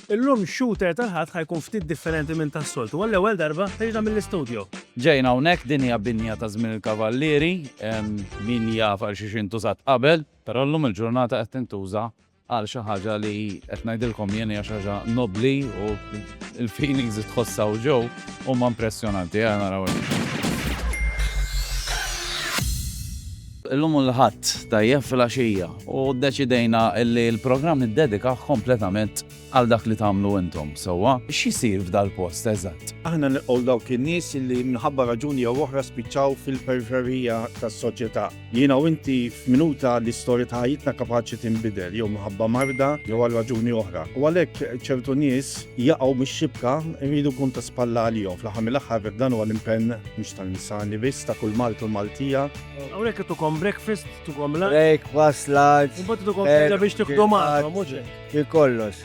Illum shooter tal-Ħadd ħajkun ftit differenti minn tas-soltu u għall-ewwel darba ħriġna mill-istudju. Ġejna hawnhekk din hija binja ta' żmien il-Kavallieri, min jaf għal xiex intużat qabel, però llum il-ġurnata qed tintuża Qal xi ħaġa li qed ngħidilkom jien hija xi ħaġa nobbli u l-feelings li tħoss hawn ġew huma impressjonanti. Ejja naraw hekk. Illum hu l-Ħadd, tajjeb filgħaxija, u ddeċidejna li l-programm niddedikah kompletament għal dak li tagħmlu intom, sewwa? X'isir f'dal-post eżatt? Aħna nilqgħu dawk in-nies li minħabba raġuni jew oħra spiċċaw fil-periferija tas-soċjetà. Jiena u inti f'minuta li storja ta' ħajjitna kapaċi tinbidel, jew minħabba marda jew għal raġuni oħra. U għalhekk ċertu nies jaqgħu mix-xibka, irridu nkunu ta' spalla għalihom. Fl-aħħar mill-aħħar vek dan huwa l-impenn mhux tal-Insani biss, ta' kull Malti u Maltija. Hawnhekk itukom breakfast, itukom lunch. Breakfast, lunch. Imbagħad itukom terġa' biex tiqdu magħhom, mhux hekk? Ġie kollox.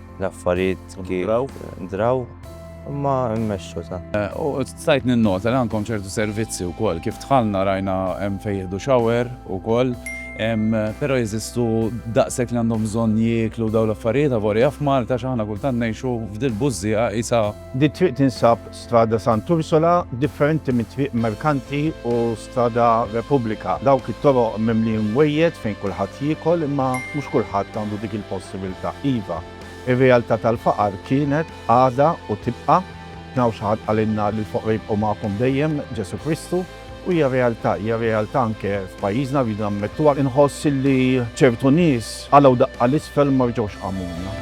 L-affarijiet kif draw imma mmexxu ta'. U stajt ninnota li għandkom ċertu servizzi wkoll. Kif dħalna rajna hemm fejn jieħdu shower ukoll. Però jeżistu daqshekk li għandhom bżonn jieklu dawn l-affarijiet avolja f'Malta għax aħna kultant ngħixu f'dil-bużżieqa qisha. Din it-triq tinsab Strada Sant'Ursula, differenti minn Triq Merkanti u Strada Repubblika. Dawk it-toroq mimlijin wejjed fejn kulħadd jiekol imma mhux kulħadd għandu dik il-possibilità. Iva, ir-realtà tal-faqar kienet, għadha u tibqa'. Naf xi ħadd qalilna li l-foqra jibqgħu magħkom dejjem, Ġesù Kristu. U hija realtà, hija realtà anke f'pajjiżna rridu nammettuha, inħoss illi ċertu nies qalgħu daqqa 'l isfel u ma rġgħux qamuna.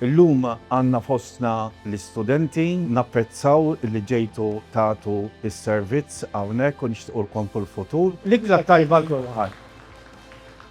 Illum għandna fostna l-istudenti. Napprezzaw li ġejtu tagħtu s-servizz hawnhekk u nixtiequlkom kull futur. L-Ikla t-Tajba għal kulħadd.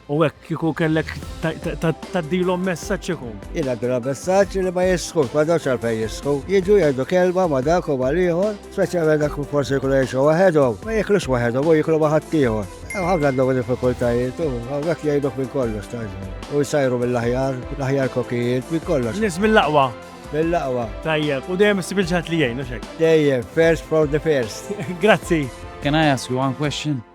U hekk kieku kellek tgħaddilhom messaġġ ikun? Jien ngħaddilhom messaġġ li ma jistħux, m'għandhomx għalfejn jistħu. Jiġu jgħidu kelma ma' dak u mal-ieħor. Speċjalment dak li forsi jkunu jgħixu waħedhom, ma jiklux waħedhom u jiklu ma' ħaddieħor. Hemm ħafna għandhom diffikultajiet u hawnhekk jgħidok minn kollox taġni. U jsajru mill-aħjar, l-aħjar kokijiet, minn kollox. Nies mill-aqwa. Mill-aqwa. Tajjeb, u dejjem issib il-ġaħat li jgħin, u xek. Dejjem, first for the first. Grazzi. Can I ask you one question?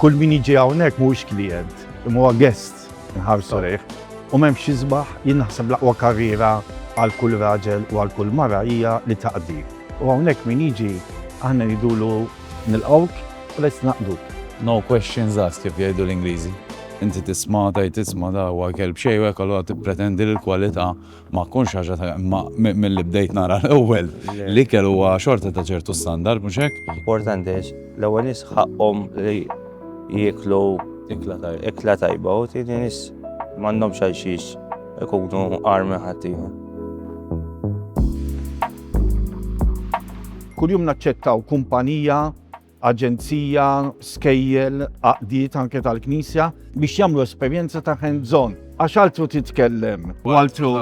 Kull min jiġi hawnhekk mhuwiex klijent, imma huwa guest inħarsu lejh. U m'hemmx x'isbaħ, jien naħseb l-aqwa karriera għal kull raġel u għal kull mara hija li taqdi. U hawnhekk min jiġi aħna ngħidulu nilqgħuk u lest naqduk. No questions asked kif jgħidu l-Ingliżi. Inti tisma' tgħid isma' da huwa kelb xejwek allura tippretendi li l-kwalità Ma tkunx ħaġa ta' imma milli bdejt nara l-ewwel, l-ikel huwa xorta ta' ċertu standard, mhux hekk? Importanti għax l-ewwel nies ħaqqhom li jieklu ikla tajba u t-tieni nies m'għandhomx għal xiex ikunu agħar minn ħaddieħor. Kuljum naċċettaw kumpanija. aġenzija, skejjel, għaqdiet anke tal-Knisja biex jagħmlu esperjenza ta' hands on. Għax altru titkellem u altru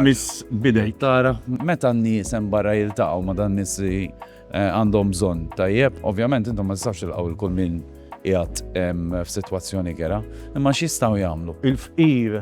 miss bidej. Tara, meta n-nies hemm barra jiltaqgħu ma' dan nies li eh, għandhom bżonn tajjeb, ovvjament intom ma tistgħux ilqgħu il kull min qiegħed f'sitwazzjoni kera, imma x'jistgħu jagħmlu? Il-fqir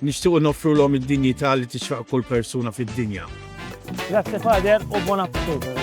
Nixtiequ noffrulhom id-dinjità li tixraq kull persuna fid-dinja. Grazzi Father u buon appetito.